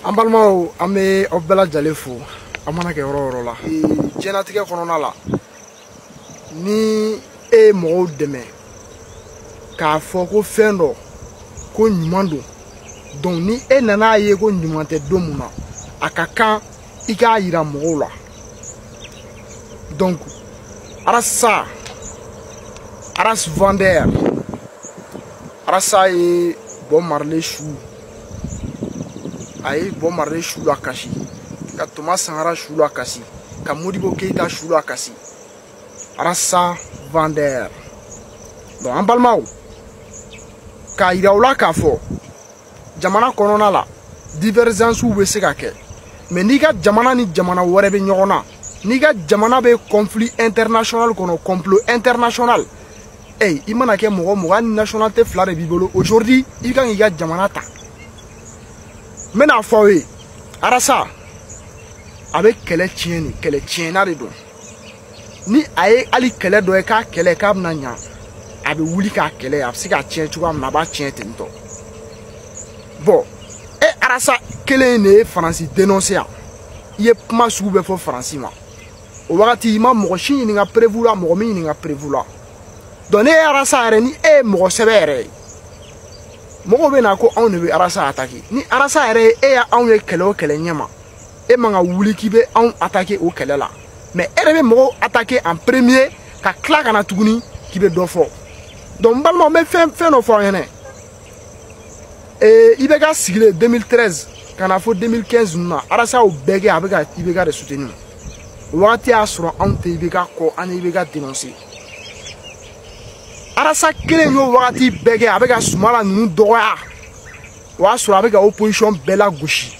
an balimaw an bɛ aw bɛɛ lajɛlen fo aw mana kɛ yɔrɔ yɔrɔ la diɲɛlatigɛ kɔnɔna la ni e ye mɔgɔw dɛmɛ k'a fɔ ko fɛn dɔ ko ɲuman don donc ni e nan'a ye ko ɲuman tɛ don mun na a ka kan i k'a yira mɔgɔw la donc arasa aras vendeur arasa ye bob marley su a ye bob marley su lakasi ka toma sankara su lakasi ka modibo keyita su lakasi arasa vendeur donc an balimaw k'a yira u la k'a fɔ jamana kɔnɔna la divergence bɛ se ka kɛ mais n'i ka jamana ni jamana wɛrɛ bɛ ɲɔgɔn na n'i ka jamana bɛ conflit international kɔnɔ complot international ey i mana kɛ mɔgɔ mɔgɔ hali nationalité fila de b'i bolo aujourd'hui i ka kan k'i ka jamana ta n bɛn'a fɔ aw ye arasa a bɛ kɛlɛ tiɲɛ nin kɛlɛtiɲɛna de don ni a ye hali kɛlɛ dɔ ye k'a kɛlɛ k'a bɛna ɲa a bɛ wuli k'a kɛlɛ a bɛ se k'a tiɲɛ cogoya min na a b'a tiɲɛ ten tɔ bon e arasa kelen in de ye faransi dénoncer yan i ye kuma sugu bɛɛ fɔ faransi ma o wagati i ma mɔgɔ si ɲininka preuve la mɔgɔ m'i ɲininka preuve la donc n'e ye arasa yɛrɛ ni e ye mɔgɔ sɛbɛ yɛrɛ ye mɔgɔw bɛ na ko anw de bɛ arasa attaquer ni arasa yɛrɛ ye e y'anw ye kɛlɛ o kɛlɛ ɲɛma e man kan ka wuli k'i bɛ anw attaquer o kɛlɛ la mais e yɛrɛ bɛ mɔgɔw attaquer en premier ka tila ka na tuguni k'i bɛ dɔ fɔ donc n balimaw n bɛ fɛn fɛn dɔ fɔ aw ɲɛna ee ibk sigilen 2013 ka na fo 2015 ninnu na arasa y'o bɛɛ kɛ a bɛ ka ibk de soutenir o wagati y'a sɔrɔ anw tɛ ibk kɔ an ye ibk dénoncer arasa kelen y'o wagati bɛɛ kɛ a bɛ ka sumala ninnu dɔgɔya o y'a sɔrɔ a bɛ ka opposition bɛɛ lagosi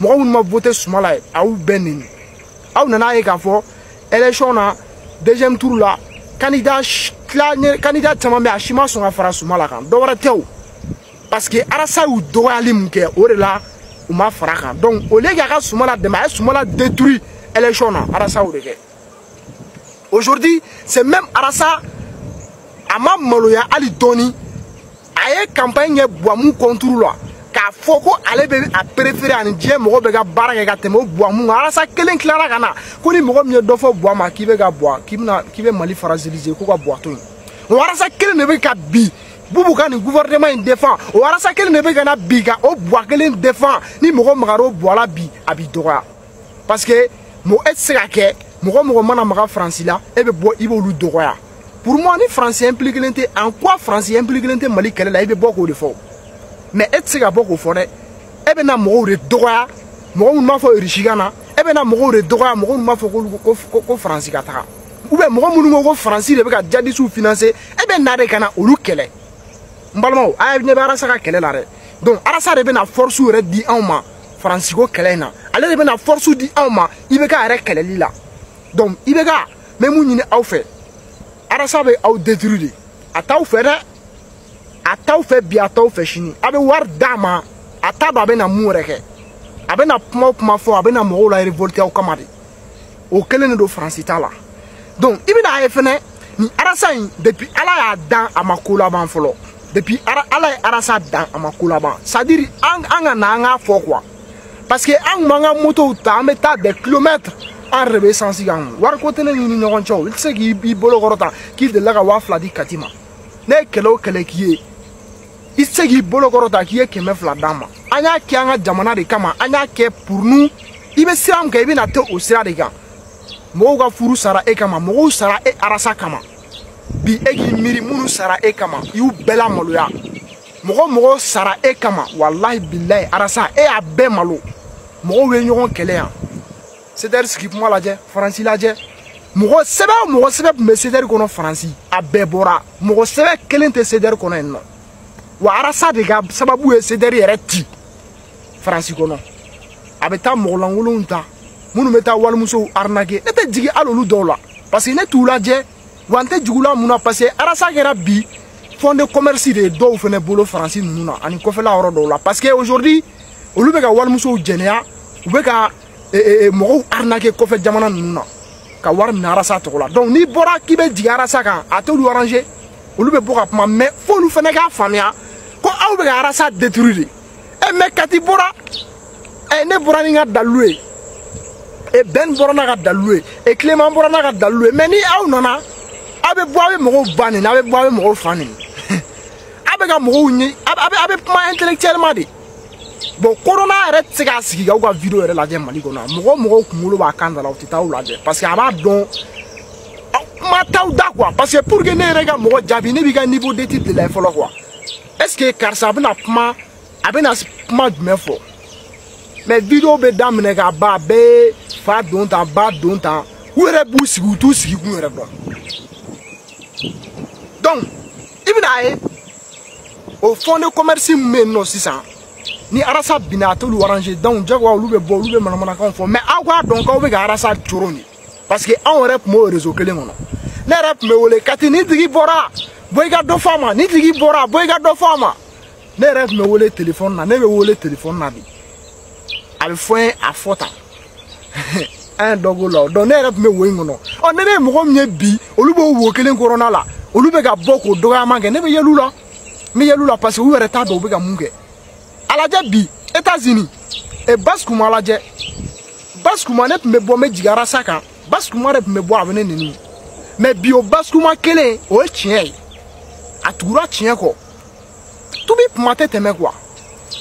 mɔgɔ minnu ma voter sumala ye a y'u bɛɛ neni aw nan'a ye k'a fɔ élection na deuxième tour la candidat tila candidat caman bɛ a si ma sɔn ka fara sumala kan dɔ wɛrɛ tɛ o parce que arasa y'u dɔgɔyali min kɛ o de la u ma fara a kan donc au lieu k'a ka sumala dɛmɛ a ye sumala détruit élection na arasa y'o de kɛ aujourd'hui ce même arasa a ma maloya hali dɔɔni a ye campagne kɛ buwa min contre la k'a fɔ ko ale bɛ a préféré a ni diɲɛ mɔgɔ bɛɛ ka baara kɛ ka tɛmɛ o buwa min kan arasa kelen tilara ka na ko ni mɔgɔ min ye dɔ fɔ buwa ma k'i bɛ ka buwa k'i bɛna k'i bɛ mali fragiliser ko ka buwa to yen o arasa kelen de bɛ ka bi bubu ka nin gouvernement in défend o arasa kelen de bɛ ka na bi ka o buwa kelen défend ni mɔgɔ magara o buwa la bi a b'i dɔgɔya parce que e tɛ se ka kɛ mɔgɔ mɔgɔ mana maga faransi la e bɛ bɔ i b'olu dɔgɔya pour moi ni faransi impliquelen tɛ en quoi faransi impliquelen tɛ mali kɛlɛ la i bɛ bɔ k'o de fɔ mais e tɛ se ka bɔ k'o fɔ dɛ e bɛ na mɔgɔw de dɔgɔya mɔgɔ minnu b'a fɔ irisi ka na e bɛ na mɔgɔw de dɔgɔya mɔgɔ minnu b'a fɔ k'olu ko ko ko faransi ka taga ou bien mɔgɔ minnu ko ko faransi de bɛ ka jadisiw financer e bɛ na de ka na olu kɛlɛ n balimaw a ye ne bɛ arasa ka kɛlɛ la dɛ donc arasa de bɛ na force yɛrɛ di anw ma faransi ko kɛlɛ in na ale de bɛna force di aw ma ibk yɛrɛ kɛlɛli la donc ibk n bɛ mun ɲini aw fɛ arasa bɛ aw détruire de a t'aw fɛ dɛ a t'aw fɛ bi a t'aw fɛ sini a bɛ wari d'a ma a t'a dɔn a bɛna mun yɛrɛ kɛ a bɛna kuma o kuma fɔ a bɛna mɔgɔw la révolter aw kama de o kelen de don faransi t'a la donc i bɛna a ye fɛnɛ nin arasa in depuis ala y'a dan a ma ko laban fɔlɔ depuis ala ye arasa dan a ma ko laban c'est à dire an an ka na an k'a fɔ quoi parce que an kun b'an ka motow ta an bɛ taa des kilomètres an yɛrɛ bɛ esansi k'an kun wariko tɛ ne n'i ni ɲɔgɔn cɛ o i tɛ se k'i bolo kɔrɔta k'i delila ka waa fila di kati ma ne ye kɛlɛ o kɛlɛ k'i ye i tɛ se k'i bolo kɔrɔta k'i ye kɛmɛ fila d'an ma an y'a kɛ an ka jamana de kama an y'a kɛ pour nous i bɛ sira min kan i bɛna to o sira de kan mɔgɔw ka furu sara e kama mɔgɔw sara e arasa kama bi e k'i miiri minnu sara e kama i y'u bɛɛ lamaloya mɔgɔ o mɔgɔ sara e kama walahi bilayi arasa e y'a bɛɛ malo mɔgɔw ye ɲɔgɔn kɛlɛ yan cdr sigi kuma lajɛ faransi lajɛ mɔgɔ sɛbɛ o mɔgɔ sɛbɛ tun bɛ cdr kɔnɔ faransi a bɛɛ bɔra mɔgɔ sɛbɛ kelen tɛ cdr kɔnɔ yen nɔ wa arasa de ka sababu ye cdr yɛrɛ ci faransi kɔnɔ a bɛ taa mɔgɔ lankolonw ta minnu bɛ taa walimusow arnaquer ne tɛ jigin hali olu dɔw la parce que ne t'u lajɛ wa n tɛ jugula mun na parce que arasa kɛra bi fond de commerce de ye dɔw fana bolo faransi ninnu na ani kɔfɛla yɔrɔ dɔw la parce que aujourd'hui olu bɛ ka walimusow jɛnɛya u bɛ ka mɔgɔw arnaquer kɔfɛ jamana ninnu na ka wari minɛ arasa tɔgɔ la donc n'i bɔra k'i bɛ jigin arasa kan a t'olu arranger olu bɛ bɔ ka kuma mais f'olu fana k'a faamuya ko aw bɛ ka arasa détruire de ɛ mais kati bɔra ɛ ne bɔra ni n ka dalilu ye ɛ ben bɔra n'a ka dalilu ye ɛ clément bɔra n'a ka dalilu ye mais ni aw nana aw bɛ bɔ aw bɛ mɔgɔw ba neni aw bɛ bɔ aw bɛ mɔgɔw fa neni aw bɛ ka mɔgɔw ɲɛ aw bɛ kuma intellectuellement de bon korona yɛrɛ tɛ se k'a sigi k'aw ka video yɛrɛ lajɛ mali kɔnɔ mɔgɔ o mɔgɔ kunkolo b'a kan da la u tɛ taa aw lajɛ parce que a b'a dɔn aw kuma t'aw da quoi parce que pour que ne yɛrɛ ka mɔgɔ jaabi ne b'i ka niveau d'étude de lajɛ fɔlɔ quoi est ce que karisa a bɛna kuma a bɛna kuma jumɛn fɔ mais video bɛ daminɛ ka ban a bɛɛ fadɔntan badɔntan u yɛrɛ b'u sigi u t'u sigi kun yɛrɛ dɔn donc i bɛna ye o fond de commerce min bɛ yen nɔ sisan ni arasa binna a t'olu arranger donc jagoya olu bɛ bɔ olu bɛ manamanakanw fɔ mais aw k'a dɔn k'aw bɛ ka arasa coron de parce que anw yɛrɛ tun b'o réseau kelen kɔnɔ ne yɛrɛ tun bɛ wele kati nin tigi bɔra bɔ i ka dɔ fɔ a ma nin tigi bɔra bɔ i ka dɔ fɔ a ma ne yɛrɛ tun bɛ wele telefɔni na ne bɛ wele telefɔni na bi a bɛ fɔ n ye a fɔ tan an ye dɔ k'o la donc ne yɛrɛ tun bɛ wo in kɔnɔ ɔ ne ne ye mɔgɔ min ye bi olu b'o wo kelen kɔnɔna la olu bɛ ka bɔ k'o dɔgɔyama kɛ ne bɛ yɛl'u la n bɛ yɛl'u la parce que u yɛrɛ t'a dɔn u bɛ ka mun kɛ a lajɛ bi États-Unis e basi kuma lajɛ basi kuma ne tun bɛ bɔ n bɛ jigin arasa kan basi kuma de tun bɛ bɔ a bɛ ne neni mais bi o basi kuma kelen o ye tiɲɛ ye a tugura tiɲɛ kɔ tuubi tuma tɛ tɛmɛ quoi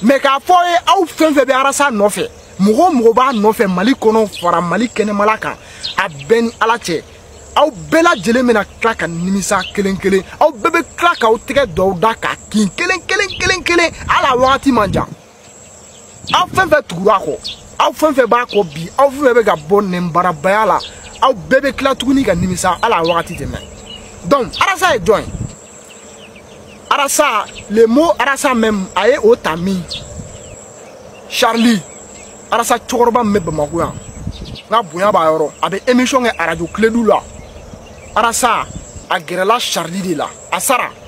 mais n k'a f'aw ye aw fɛn fɛn bɛ arasa nɔfɛ mɔgɔ o mɔgɔ b'a nɔfɛ mali kɔnɔ fara mali kɛnɛmala kan a bɛɛ ni ala cɛ aw bɛɛ lajɛlen bɛna tila ka nimisa kelen kelen aw bɛɛ bɛ tila k'aw tɛgɛ don aw da k'a kin kelen kelen kelen kelen hali a wagati man jan aw fɛn fɛn tugura a kɔ aw fɛn fɛn b'a kɔ bi aw fɛn fɛn bɛ ka bɔ nɛnbarabaya la aw bɛɛ bɛ tila tuguni ka nimisa hali a wagati tɛ mɛn donc arasa ye jɔn ye arasa le mot arasa même a ye o ta min charlie arasa cɛkɔrɔba min bɛ bamako yan n ka bonya b'a yɔrɔ a bɛ émission kɛ arajo kiledu la arasa a gɛrɛla charlie de la charlie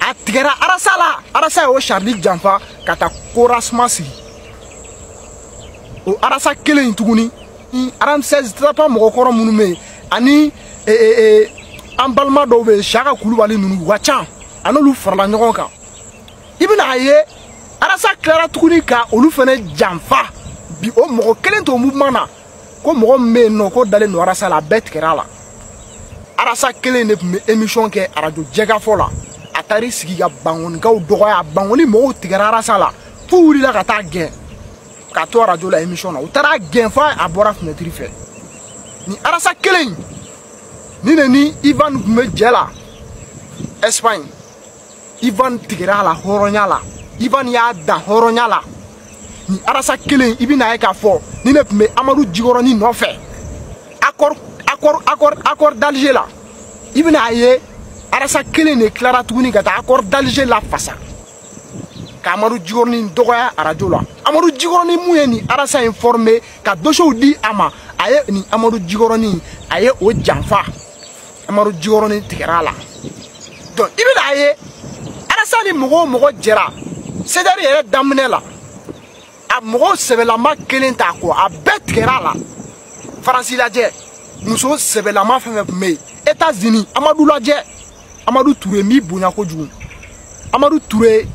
a tigɛra arasa la arasa y'o charlie janfa ka taa corasma sigi o arasa kelen in tuguni aramsɛs tapa mɔgɔkɔrɔ minnu bɛ yen ani e, e, e, an balima dɔw bɛ yen siyaka kulubali ninnu u ka ca a n'olu farala ɲɔgɔn kan i bɛna a ye arasa tilara tuguni ka olu fana janfa bi o mɔgɔ kelen t'o mouvement na ko mɔgɔ min bɛ yen nɔ k'o dalen don arasa la a bɛɛ tigɛra a la arasa kelen de tun bɛ emisiyɔn kɛ arajo jɛkafɔ la a taar'i sigi ka bankonikaw dɔgɔya bankoni mɔgɔw tigɛra arasa la f'u wulila ka taa a gɛn ka to arajo la emisiyɔn na u taar'a gɛn fo a bɔra finɛtiri fɛ nin arasa kelen in nin de ni ivan tun bɛ jɛ la ɛsipaɲi ivan tigɛra a la hɔrɔnya la ivan y'a dan hɔrɔnya la nin arasa kelen i bɛna a ye k'a fɔ nin de tun bɛ amadu jikɔrɔni nɔfɛ accord d'alger la i bɛna a ye arasa kelen de tilara tuguni ka taa accord d'alger lafasa ka amadu jikɔrɔni dɔgɔya arajo la amadu jikɔrɔni min ye nin arasa in former ka dosiyew di a ma a ye nin amadu jikɔrɔni a ye o janfa amadu jikɔrɔnin tigɛra a la donc i bɛna a ye arasa ni mɔgɔ o mɔgɔ jɛra sedɛri yɛrɛ daminɛ la a mɔgɔ sɛbɛlama kelen t'a kɔ a bɛɛ tigɛra a la faransi lajɛ muso sɛbɛlama fɛn fɛn tun bɛ yen états-unis amadu lajɛ amadu ture min bonya kojugu amadu ture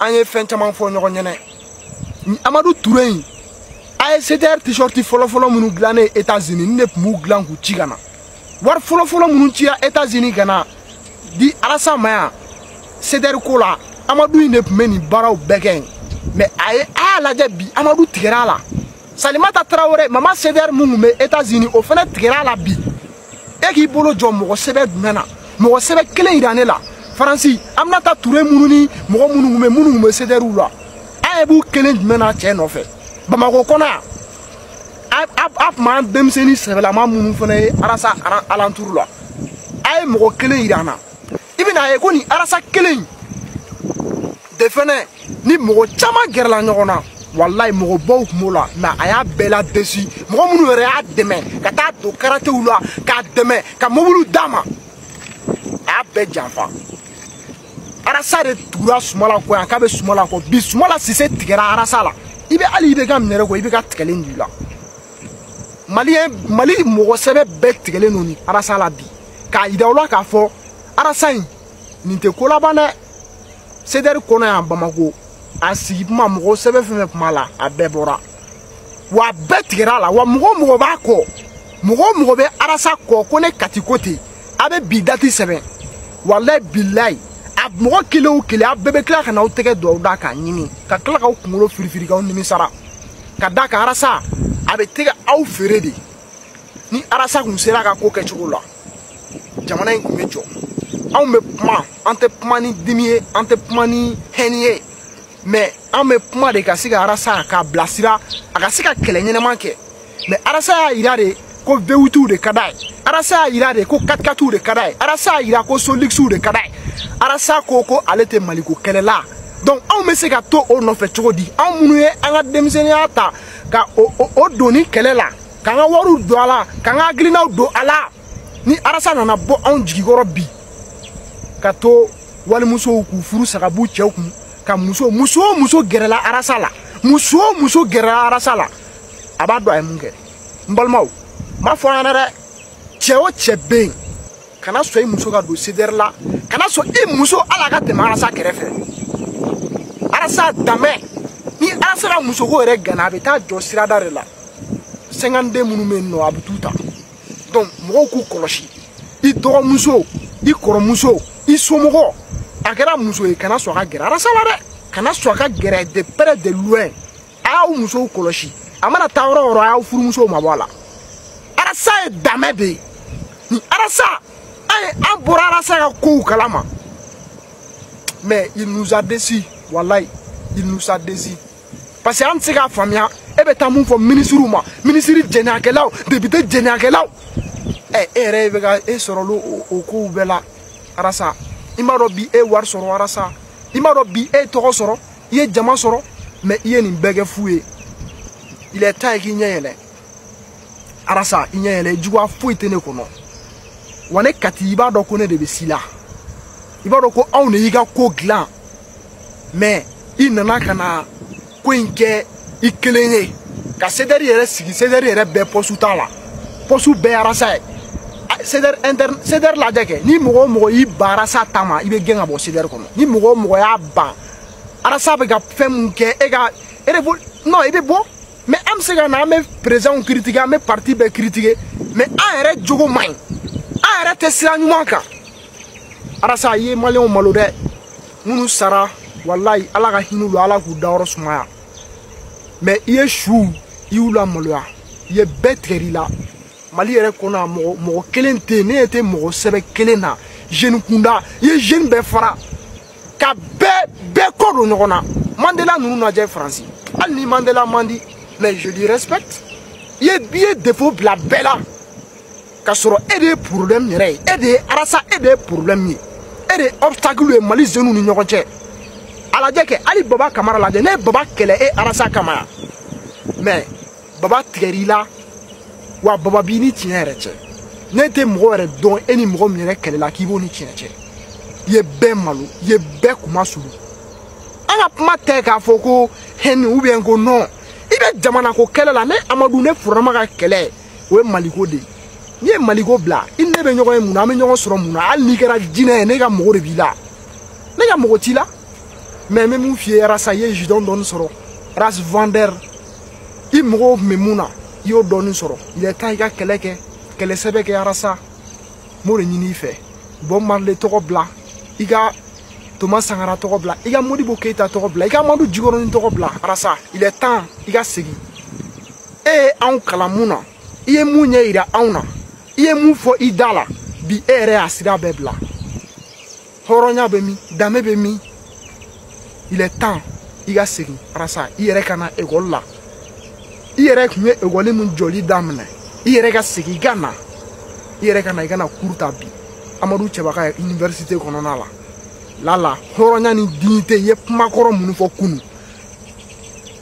an ye fɛn caman fɔ ɲɔgɔn ɲɛnɛ amadu ture in a ye cdr t-shirt fɔlɔfɔlɔ minnu dilannen états-unis nin de tun b'u dilan k'u ci ka na wari fɔlɔfɔlɔ minnu cira états-unis ka na di arasa ma yan sedɛri ko la amadu in de tun bɛ nin baaraw bɛɛ kɛ mɛ a ye a y'a lajɛ bi amadu tigɛra a la salimata tarawele mama sedɛri min tun bɛ états-unis o fana tigɛra a la bi e k'i bolo jɔ mɔgɔ sɛbɛ jumɛn na mɔgɔ sɛbɛ kelen yira ne la faransi aminata ture minnu ni mɔgɔ minnu tun bɛ minnu tun bɛ sedɛriw la a ye b'u kelen jumɛn na cɛ nɔfɛ bamakɔ kɔnɔ yan a tun b'an denmisɛnnin sɛbɛlama minnu fana ye arasa alanturu la a ye mɔgɔ kelen yira an na i bɛna ye ko nin arasa kelen de fana ni mɔgɔ caman gɛrɛla ɲɔgɔn na walayi mɔgɔbaw tun b'o la mɛ a y'a bɛɛ la desi mɔgɔ minnu yɛrɛ y'a dɛmɛ ka taa don karatew la k'a dɛmɛ ka mobiliw d'a ma a y'a bɛɛ janfa arasa de tugura sumala kɔ yan k'a bɛ sumala kɔ bi sumala sise tigɛra arasa la i bɛ hali ibk minɛlen kɔ ibk tigɛlen don u la mali mɔgɔ sɛbɛ bɛɛ tigɛlen don nin arasa la bi k'a yira u la k'a fɔ arasa in nin tɛ ko laban dɛ sedɛri kɔnɔ yan bamako a sigi tuma mɔgɔ sɛbɛ fɛn fɛn tun b'a la a bɛɛ bɔra wa a bɛɛ tigɛra a la wa mɔgɔ o mɔgɔ b'a kɔ mɔgɔ o mɔgɔ bɛ arasa kɔ ko ne kati ko ten a bɛ bi dati sɛbɛn walayi bilayi a mɔgɔ kelen o kelen a bɛɛ bɛ tila ka n'aw tɛgɛ don aw da k'a ɲimi ka tila k'aw kunkolo firifiri k'aw nimisara ka d'a kan arasa a bɛ tɛgɛ aw feere de ni arasa kun sera ka ko kɛ cogo la jamana in kun bɛ jɔ anw bɛ kuma an tɛ kuma ni dimi ye an tɛ kuma ni hɛni ye mɛ an bɛ kuma de ka se ka arasa k'a bilasira a ka se ka kɛlɛ ɲɛnama kɛ mɛ arasa y'a yira de ko vewitiw de ka d'a ye arasa y'a yira de ko katikatiw de ka d'a ye arasa y'a yira ko soligisiw de ka d'a ye arasa ko ko ale tɛ maliko kɛlɛ la donc anw bɛ se ka to o nɔfɛ cogo di anw minnu ye an ka denmisɛnninya ta ka o o, o don nin kɛlɛ la k'an ka wariw don a la k'an ka hakilinaw don a la ni arasa nana bɔ anw jigi kɔrɔ bi ka to walimusow k'u furu sa ka b'u cɛw kun ka muso muso o muso gɛrɛla arasa la muso o muso gɛrɛla arasa la a b'a dɔn a ye mun kɛ n balimaw n b'a fɔ an ɲɛna dɛ cɛ o cɛ bɛ yen kana sɔn i muso ka don sedɛri la kana sɔn i muso hali a ka tɛmɛ arasa kɛrɛfɛ arasa danbɛ ni arasa ka musoko yɛrɛ ganna a bɛ taa jɔ sirada de la sɛnkanden minnu bɛ yen nɔ a bɛ t'u ta donc mɔgɔw k'u kɔlɔsi i dɔgɔmuso i kɔrɔmuso i somɔgɔ a kɛra muso ye kana sɔn a ka gɛrɛ arasa la dɛ kana sɔn a ka gɛrɛ de près de loin a y'aw musow kɔlɔsi a mana taa yɔrɔ o yɔrɔ a y'aw furumusow mabɔ a la arasa ye damɛ de ye nin arasa an bɔra arasa ka kow kalama mais il nous a déçu walayi il nous a déçu parce que an tɛ se k'a faamuya e bɛ taa mun fɔ minisiriw ma minisiri jɛnɛyakɛlaw député jɛnɛyakɛlaw ɛ e yɛrɛ e bɛ ka e sɔrɔ o kow bɛɛ la arasa i m'a dɔn bi e wari sɔrɔ arasa i m'a dɔn bi e tɔgɔ sɔrɔ i ye jama sɔrɔ mais i ye nin bɛɛ kɛ fu ye il est temps k'i ɲɛ yɛlɛ arasa i ɲɛ yɛlɛ juguya foyi tɛ ne kɔnɔ wa ne kati i b'a dɔn ko ne de bɛ si la i b'a dɔn ko anw de y'i ka ko dilan mais i nana ka na ko in kɛ i kelen ye ka CDR yɛrɛ sigi CDR yɛrɛ bɛɛ poste t'a la poste bɛɛ arasa ye CDR interne CDR lajɛ kɛ ni mɔgɔ o mɔgɔ y'i ban arasa ta ma i bɛ gɛn ka bɔ CDR kɔnɔ ni mɔgɔ o mɔgɔ y'a ban arasa bɛ ka fɛn min kɛ e ka e de non i bɛ bɔ mais an bɛ se ka na an bɛ perezidanw kiritike an bɛ parti bɛɛ kiritike mais an yɛrɛ jogo man ɲi an yɛrɛ tɛ sira ɲuman kan arasa i ye maliyɛnw malo dɛ minnu sara walayi ala ka hinɛ u la ala k'u dayɔrɔ sumaya mais i ye suw i y'u lamaloya i ye bɛɛ tigɛr'i la mali yɛrɛ kɔnɔ a mɔgɔ kelen tɛ yen ne ɲɛ tɛ mɔgɔ sɛbɛ kelen na jeune kunda i ye jeune bɛɛ fara ka bɛɛ bɛɛ kɔ don ɲɔgɔn na mandela ninnu lajɛ faransi hali ni mandela man di mais je lui respecte i ye i ye défaut bila bɛɛ la ka sɔrɔ e de ye problème yɛrɛ ye e de ye arasa e de ye problème ye e de ye obstacle ye mali jeunes ni ɲɔgɔn cɛ a lajɛ kɛ hali baba kamara lajɛ ne ye baba kɛlɛ e arasa kama yan mais baba tigɛr'i la wa baba b'i ni tiɲɛ yɛrɛ cɛ ne tɛ mɔgɔ yɛrɛ dɔn e ni mɔgɔ min yɛrɛ kɛlɛla k'i b'o ni tiɲɛ cɛ i ye bɛɛ malo i ye bɛɛ kuma sulu an ka kuma tɛ k'a fɔ ko haine ou bien ko non i bɛ jamanako kɛlɛ la ne amadu ne furama ka kɛlɛ o ye maliko de ye n'i ye maliko bila i ni ne bɛ ɲɔgɔn ye mun na an bɛ ɲɔgɔn sɔrɔ mun na hali n'i kɛra jinɛ ye ne ka mɔgɔ de b'i la ne ka mɔgɔ t'i la mais n bɛ mun f'i ye arasa i ye jidɔn dɔɔni sɔrɔ ras vendeur i mɔgɔw tun bɛ mun na i y'o dɔɔni sɔrɔ il est temps i ka kɛlɛ kɛ kɛlɛ sɛbɛ kɛ arasa n b'o de ɲini i fɛ bob marley tɔgɔ bila i ka thomas sankara tɔgɔ bila i ka modibo keyita tɔgɔ bila i ka amadu jikɔrɔni tɔgɔ bila arasa il est temps i ka segin e ye anw kalan mun na i ye mun ɲɛ yira anw na i ye mun fɔ i da la bi e yɛrɛ y'a sira bɛɛ bila hɔrɔnya bɛ min danbe bɛ min il est temps i ka segin arasa i yɛrɛ ka na ekɔli la i yɛrɛ tun ye ekɔli min jɔli daminɛ i yɛrɛ ka segin i ka na i yɛrɛ ka na i ka na cours ta bi amadu cɛba ka université kɔnɔna la lala hɔrɔnya ni dignité i ye kumakɔrɔ minnu fɔ kunu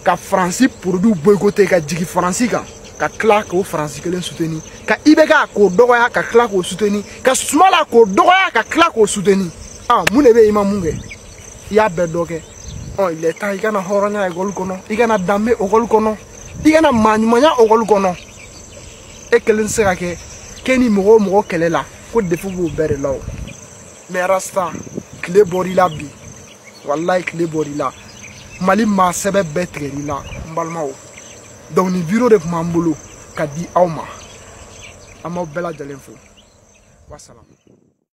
ka faransi produit boycotter ka jigi faransi kan ka tila k'o faransi kelen soutenir ka ibk k'o dɔgɔya ka tila k'o soutenir ka sumala k'o dɔgɔya ka tila k'o soutenir ah mun de bɛ i ma mun kɛ i y'a bɛɛ dɔ kɛ ɔ il est temps i ka na hɔrɔnya ekɔli kɔnɔ i ka na danbe ekɔli kɔnɔ i ka na maaɲumanya ekɔli kɔnɔ e kelen tɛ se ka kɛ k'e ni mɔgɔ o mɔgɔ kɛlɛ la ko défaut b'o bɛɛ de la o mais rasta tile bɔr'i la bi walayi tile bɔr'i la mali maa sɛbɛ bɛɛ tigɛr'i la n balimaw donc nin vidéo de tun b'an bolo ka di aw ma an b'aw bɛɛ lajɛlen fo wasalamu